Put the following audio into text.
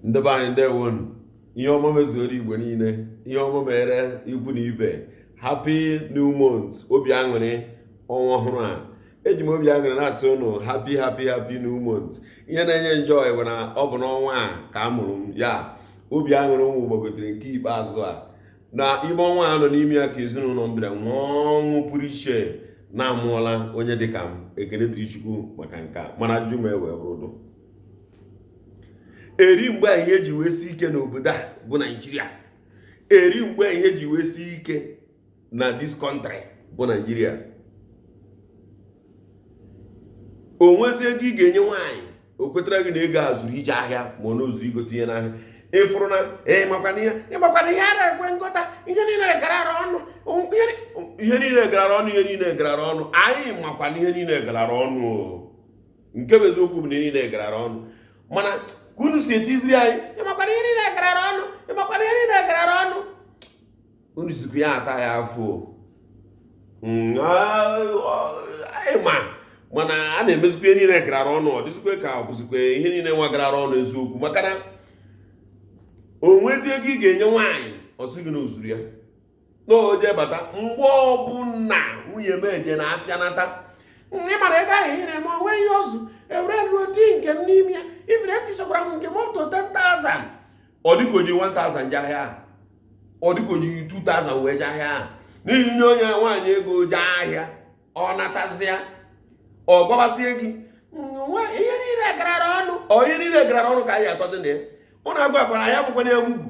ndị be anyị ndeewonụ ihe ọma mezuoro igbo niile ihe ọma mere ikwu na ibe happy new month obi aṅụrị ọnwa ọhụrụ a eji m obi aṅụrị na-asị ụnụ happy happy happy new month ihe na-enye njọ bụ na ọ bụ n'ọnwa a ka a mụrụ m ya obi aṅụrị mụ gbagotere nke ikpeazụ a na ime ọnwa a nọ n'ime ya ka ezinụlọ m bịara nwee ọṅụ pụrụ iche na a mụọla onye dịka m ekele dịrị Chukwu maka nke a mana ajụjụ m ewee bụrụ eri mgbe ihe ji wee si ike n'obodo a bụ naijiria eri mgbe ihe ji wee si ike na this country bụ naijiria o nwezi ego ị ga-enye nwaanyị o kwetara gị na ego a zuru ije ahịa ma ọ na o zuru igote ihe n'ahịa ị fụrụ na ị makwa na ihe ị makwa na ihe a na-ekwe ngota ihe niile garara ọnụ ihe niile garara ọnụ ihe niile garara ọnụ anyị makwa na ihe niile garara ọnụ nke bụ eziokwu bụ na ihe niile garara ọnụ mana ka unu si etiziri anyị ị makwa na ihe niile garara ọnụ ị makwa na ihe niile garara ọnụ unu sikwa ya ata ya afọ mm, anyị ma mana a na-emezikwa ihe niile garara ọnụ ọ dịzikwa ka ọ bụzikwa ihe niile nwa garara ọnụ eziokwu maka na o nwezi ego ị ga-enye nwaanyị ọ sị gị na o zuru ya na o je bata mgbe ọbụla nwunye m eje na afịa nata ị mara ego ahụ i nyere m o nwe ihe o zu ewere m tinye nke m n'ime ya ị fụrụ etichakwara m nke m up to 10,000 ọ dịka o ji 1000 je ahịa ọ dịka o ji 2000 wee je ahịa na i nye onye nwaanyị ego je ahịa ọ natazịa ọ gwabazie gị ihe niile garara ọnụ ọ ihe niile garara ọnụ ka anyị atọ dị na ya ụnụ agwakwara ya bụkwana ya mugu